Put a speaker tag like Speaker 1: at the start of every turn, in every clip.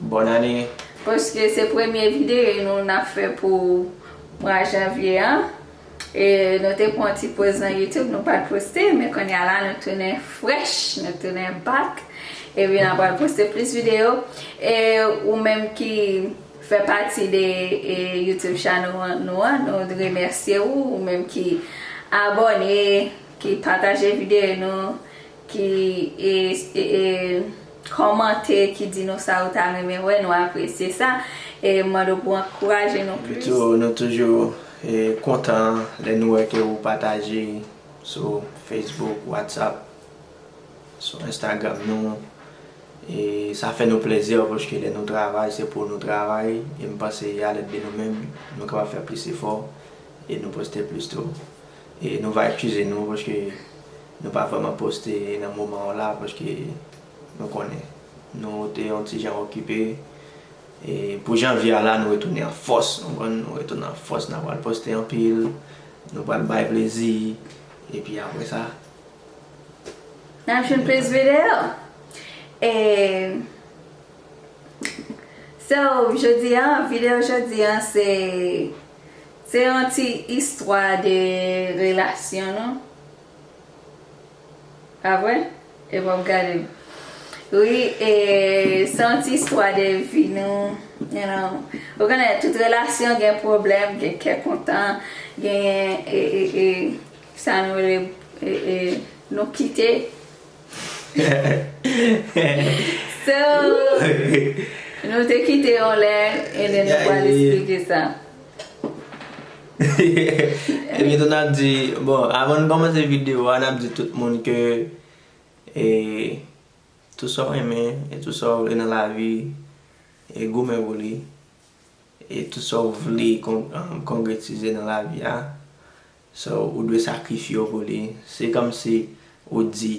Speaker 1: Bòn ane.
Speaker 2: Paske se
Speaker 1: premye videye nou nap fè pou mwa janvye an e nou te pran yon ti poz nan youtube nou pat poste men konnya la nou tounen frèch nou tounen back epi nan pral poste plis videyo e ou menm ki fè pati de youtube channel nou an nou remèsye ou ou menm ki abòne ki pataje videyo nou. ki kòmante ki di nou sa yo ta renmen wè nou apresye sa e mande w pou ankouraje nou plis. Epitou nou toujou
Speaker 2: kontan lè nou wè ke ou pataje sou Facebook, WhatsApp, sou Instagram nou e sa fè nou plezi paske lè nou travay se pou nou travay e m panse a lèt de nou menm nou kapab fè plis efò e nou poste plis tou. Nou va ekskize nou paske nou pa vrèman poste nan moman an la paske nou konnen nou te yon ti jan okipe e pou janvye a la nou retounen an fòs ou konprann nou retounen an fòs na pral poste anpil nou pral bay plezi epi aprè sa
Speaker 1: nap jwenn plis video e so jodi an video jodi an se. Se yon ti istwa de relasyon nou pa vre e wap gadem ri e se yon ti istwa de vi nou you know ou konnen tout relasyon gen pwoblèm gen kè kontan genyen e e e sa nou rele e e nou kite So Nou te kite yon lè And then nou pral esplike sa
Speaker 2: Epi tou nap di Bon avan nou kòmanse video a nap di tout moun ke E Tou sa w renmen e tou sa w vle nan lavi E goumen pou li E tou sa w vle Konkretize nan lavi a So ou dwe sakrifye yo pou li. Se kòmsi ou di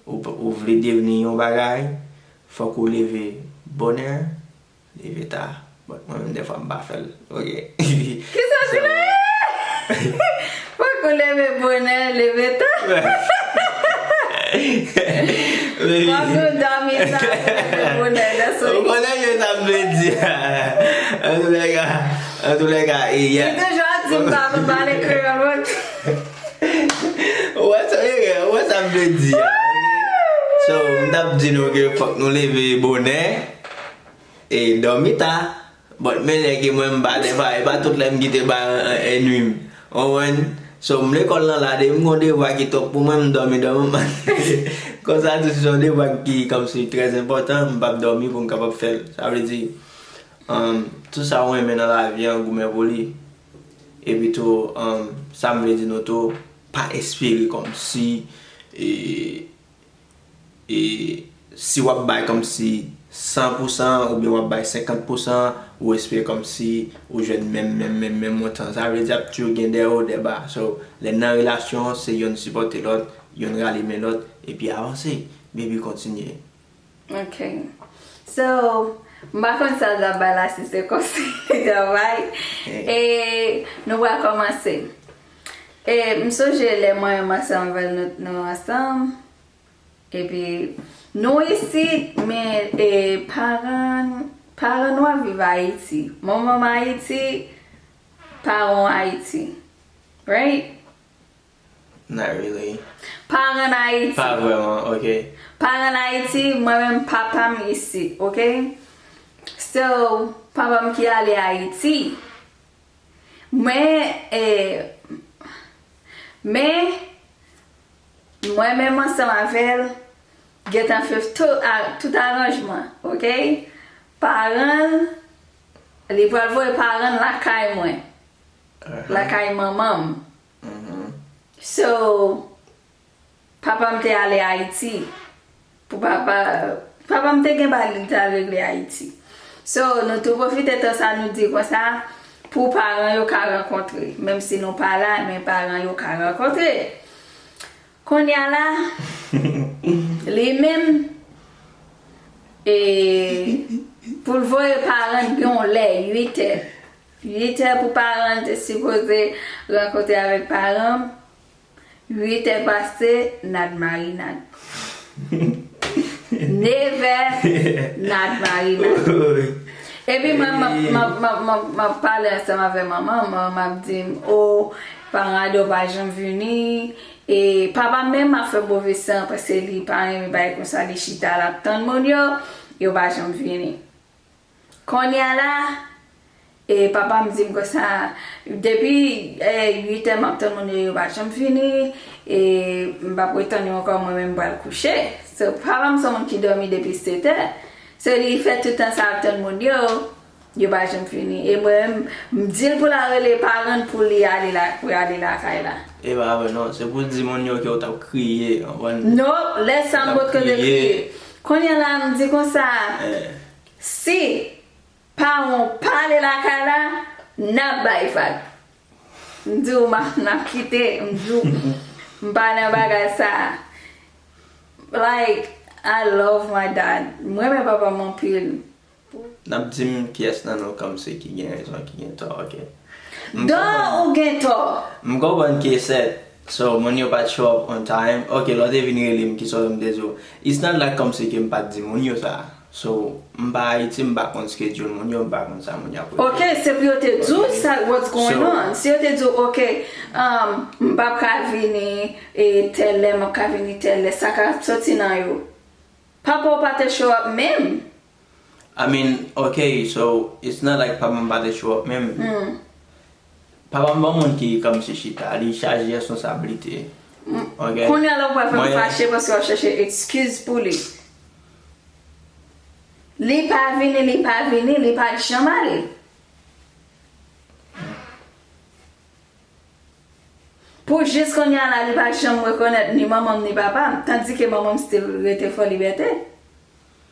Speaker 2: ou vle devni yon bagay, fòk ou leve bonè, leve ta. Bon, mwen menm dèfwa m pa fè l. Ok. Kisa ki
Speaker 1: la a? Fòk ou leve bonè, leve ta? Fòk ou dòmi ta pou leve bonè. Ou konnen sa
Speaker 2: m vle di a? Antoulèka. An tou le ka e yè. Li toujou ap di m pa konn
Speaker 1: pale kreyòl mwen
Speaker 2: tou. Ou wè sa e ou wè sa m vle di a ok. So m t ap di nou ke fòk nou leve bonè e dòmi ta. But men lè ke mwen m pa defa e pa tout lè m kite bay enui m. Ou konprann? So m lekòl lan la depi m gon devwa ki twòp pou mwen m dòmi dòmi m konsa tou si s on devwa ki kòmsi trèzenpòtan m p ap dòmi pou m kapab fè l. Sa vle di Humm tout sa ou renmen nan lavi an goumen pou li epi tou humm sam vle di nou tou pa espere kòmsi e si wap bay kòmsi san pou san oubyen wap bay senkant pou san ou espere kòmsi ou jwenn menm menm menm menm montan sa vle di ap tjou gen dè wo dè ba so lè nan relasyon se yonn sipòte lòt yonn rale men lòt epi avanse baby kontinye. Ok
Speaker 1: So m pa konn sa l t ap bay la si se konsèy li t ap bay E nou pral kòmanse E m sonje lè mwen m ansanm avèl nou ansanm Epi nou isit men e paran paran nou ap viv Ayiti Manman m Ayiti paran w Ayiti Right
Speaker 2: Not really. Pa ren
Speaker 1: Ayiti. Pa vreman, ok.
Speaker 2: Pa ren Ayiti,
Speaker 1: mwen menm papa m isi, ok. So, papa m ki ale Ayiti. Men, e, men, mwen menm ansanm avè l, gen tan fè tout aranjman, ok. Paran l, li pral voye paran l lakay mwen. Lakay manman m. So papam te ale ayiti pou papa papam te gen bagay li te al regle ayiti so nou tou pwofite tan sa nou di konsa pou paran yo ka rankontre menm si nou pa la men paran yo ka rankontre kounya la li menm e poul voye parann gen yon lè 8 è. 8 è pou paran an te sipoze rankontre avèk paran m 8 è pase nad marinad 9 è nad marinad epi mwen m ap pale ansanm avè manman m manman m ap di m o paran ado pa janm vini e papa m menm ap fè move san paske li pa renmen bagay konsa li chita l ap tann moun yo yo pa janm vini. Konnya la e papa m dim konsa depi 8 è map tann moun yo yo pa janm vini e m pa pre tann yo ankò mwen menm m pral kouche so papa m son moun ki domi depi 7 è so li fè tout tan sa ap tann moun yo yo pa janm vini e mwen menm m dil pou la rele paran l pou li ale la pou ale lakay la. E pa vre non
Speaker 2: se pou di moun yo ke w tap kriye anvan. Nope lè
Speaker 1: sa m pot kote kriye konnya la m di konsa Si paranw pale lakay la nap bay vag m diw nap kite m diw m pa nan bagay sa like I love my dad m renmen papam anpil pou. Nap
Speaker 2: dim kiyes nan nou kamse ki gen rezon ki gen tò ok. Dan ou
Speaker 1: gen tò. M konprann ke sè
Speaker 2: So moun yo pat show up on time ok lè w te vin rele m kisa w yo m te di w it's not like kòmsi ke m pat di moun yo sa so m pa Ayiti m pa konn schedule moun yo m pa konn sa moun yo ap regle Ok se pou yo te
Speaker 1: di w sa what's going on si yo te di w ok m pap ka vini e tèl lè m ap ka vini tèl lè sa ka soti nan yo papa w pa te show up menm. I mean
Speaker 2: ok so it's not like papa m pa te show up menm papa m pa yon moun ki kòmsi chita li chaje responsablite ok Kounya la ou pral fè m
Speaker 1: fache paske wap chache excuse pou li Li pa vini li pa vini li pat janm ale Pou jis kounya la li pa janm rekonèt ni manman m ni papa m tandike manman m still rete Fòlibète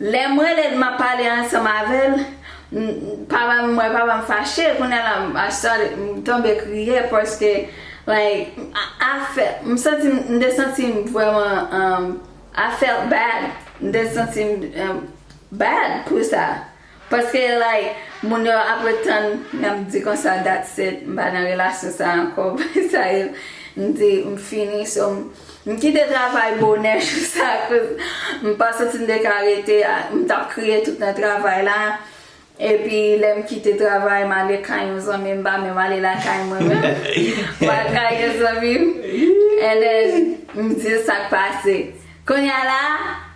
Speaker 1: Lè m rele l m ap pale ansanm avè l, papa m wè papa m fache kounye la m tonbe kriye paske like m santi m m te santi m vrèman I felt bad m te santi m bad pou sa. Paske like moun yo ap ret tann lè m di konsa that's it m pa nan relasyon sa ankò bay sa yo m di m fini so m kite travay bonè jou sa koz m pa santi m te ka rete m tap kriye tout nan travay la epi lè m kite travay m ale kay yon zanmi m pa menm ale lakay mwen menm m al kay yon zanmi m and then m di l sak pase. Kounya la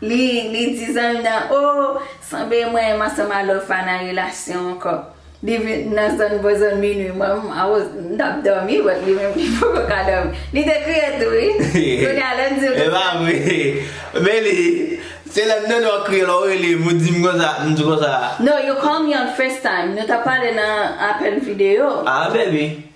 Speaker 1: li li di zanmi nan oo sanble mwen m ansanm a Lofa nan relasyon ankò li vin nan zòn bò zòn minwi mwen m I was m tap dòmi but li menm li poko ka dòmi li te kriye tou wi kounya lèm dil konsa. Epa vre
Speaker 2: men li se lèm tande wap kriye lè w rele m ou di m konsa m di konsa. No you call me on
Speaker 1: facetime nou tap pale nan apèl videyo. Ah baby.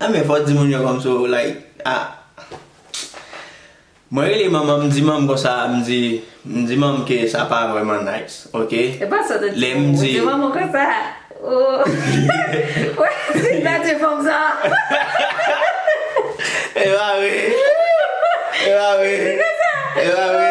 Speaker 1: Nan
Speaker 2: men fò di moun yo kòmsi w like ah Mwen rele manman m di manm konsa m di m di manm ke sa pa vrèman nice ok Epa sot ou di
Speaker 1: manman w di manman konsa ooh Wè si nan di fanm sa
Speaker 2: Epa vre Epa vre Epa vre.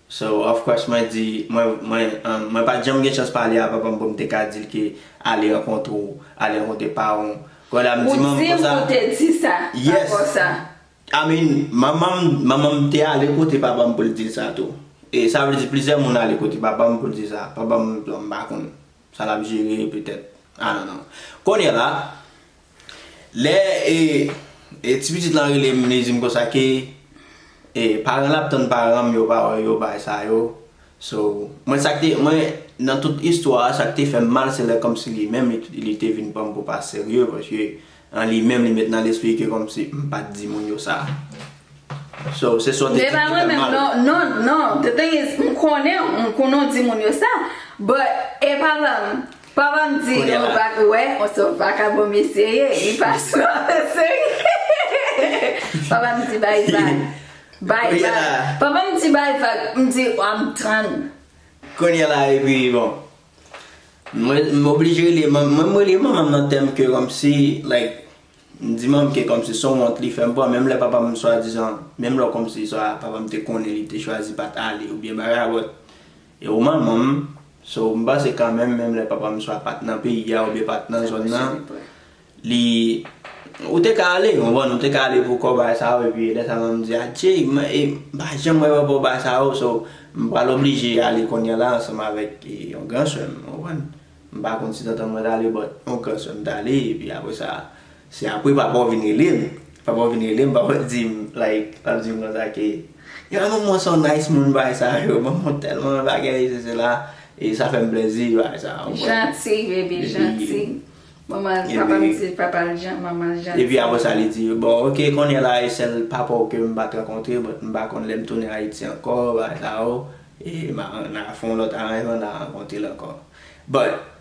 Speaker 2: So of course mwen di, mwen, mwen, um, mwen pat janm gen chans pale a papa m pou m te ka di l ke ale rankontre w, ale rankontre paran w. Kon la m di manman m konsa. Ou di m ou te di sa ankò sa. Yes. I mean, manman m,
Speaker 1: manman
Speaker 2: m te ale kote papa m pou l di l sa tou. E sa vle di plizyè moun ale kote papa m pou l di sa. Papa m, m pa konn sa l ap jere petèt. I don't know. Konnye la. Lè e ti pitit lan rele m li di m konsa ke e paran l ap tann paran m yo pa wè yo bagay sa yo so mwen sa ki te mwen nan tout istwa a sa ki te fè m mal se lè kòmsi li menm li te vin pran m pou pa serye paske an li menm li met nan lespri l ke kòmsi m pa t di moun yo sa so se sa w te di ki te fè m mal.
Speaker 1: Non non the thing is m konnen w m konnen w di moun yo sa but e paran m. Pa banm di nou pa k wè on se w vakabon mesye ye li pa sou afè seri hehehe pa banm di bay vag bay vag pa banm di bay vag m di wam tann. Kounye
Speaker 2: la epi bon mwen m oblije rele manm mwen m rele manman m nan tèm ke kòmsi like m di manm ke kòmsi son wont li fèm pran menm lè papa m swadizan menm lè kòmsi swa papa m te konnen li te chwazi pat ale oubyen bagay bòt E ou manman m, so m panse kanmenm menm lè papa m swa pat nan peyi a oubyen pat nan zòn nan, li, ou te ka ale, konprann, ou te ka ale pou kò bagay sa yo epi lè sa manman m di adye, e m pa janm wè papa w bagay sa yo, so m pral oblije ale kounya la ansanm avèk yon gran sè m, konprann. M pa konn si tantan mwen t ale but yon gran sè m t ale epi apresa. Se apre papa w vin rele m. Papa w vin rele m, papa w di m, like, l ap di m konsa ke, Ya manman w se yon nice moun, bagay sa yo, manman w tèlman bagay, se sela, e sa fè m plezi, bagay sa a, ou konprann? Janti, bebe,
Speaker 1: janti. Manman l, papa m di papa l jan, manman l janti. Epi apre sa li
Speaker 2: di, Bon, ok, kounye a la, e sèl papa w ke m pa t rankontre, but m pa konn lè m tounen Ayiti ankò, bagay sa yo, e m a, n a fè yon lòt aranjman, n a rankontre l ankò. But.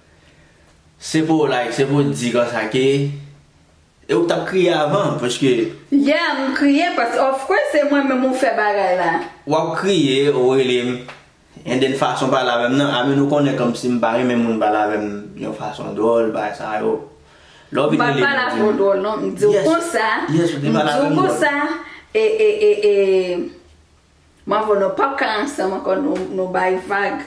Speaker 2: Se pou w like, se pou w di konsa ke e ou k tap kriye avan paske. Yeah m kriye
Speaker 1: paske of course se mwen menm ou fè bagay la. Wap kriye
Speaker 2: ou rele m and then fason w pale avè m nan a min ou konnen kòmsi m pa renmen moun pale avè m yon fason dwòl bagay sa yo. Lè w vin rele m ou di m. M pa pale avè w dwòl non
Speaker 1: m di w konsa m di w konsa e e e e m avè w nou pap ka ansanm ankò nou bay vag.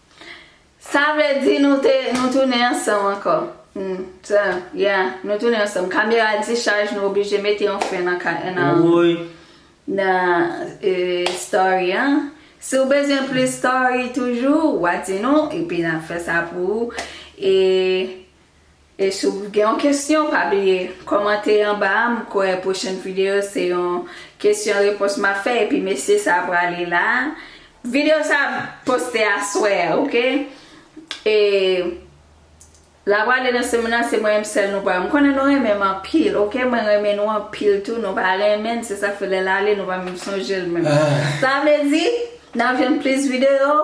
Speaker 1: Sa vle di nou te nou tounen ansanm ankò humm sa yeah nou tounen ansanm kamera di chaj nou oblije mete yon fen nan ka nan Woy. nan eh story an si w bezwen plis story toujou wa di nou epi nap fè sa pou ou eh. E si w gen yon kesyon pa bliye kòmante anba a m kwè pwochèn video se yon kesyon repons map fè epi mesye sa prale la video sa ap poste aswè a ok e la prale nan semn nan se mwen menm sèl nou pral m konnen nou renmen m anpil ok mwen renmen nou anpil tou nou pa renmen n se sak fè lè l ale nou pa menm sonje l menm sa vle di nap jwenn plis video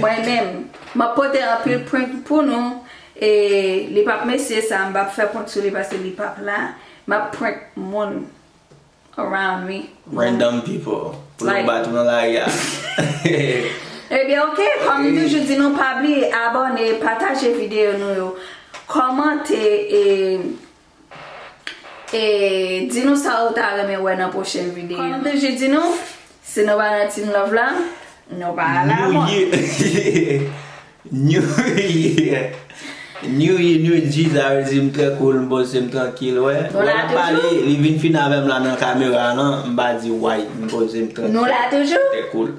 Speaker 1: mwen menm. Map pote anpil prank pou nou e li pap mesye sa m pap fè prank sou li paske li pap la map prank moun around me Random people
Speaker 2: pou yo bat ou nan lari a
Speaker 1: Ebyen ok kòm m toujou di nou pa bliye abòne pataje videyo nou yo kòmante e. E di nou sa ou ta renmen wè nan pwochen videyo. Kòm m toujou di nou, si nou pa nan Team Love la, nou pa al a mòn.
Speaker 2: New year New year New G sa vle di m trè cool, m poze m trankil wè. Nou la toujou. Wè lap pale, li vin fin avè m la nan kamera a lan, m pa di way, m poze m trankil. Nou la toujou. Trè
Speaker 1: cool.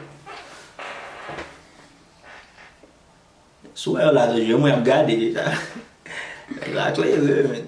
Speaker 2: Sou wè yo la toujou e mwen ap gade deja Nèg la klere menn.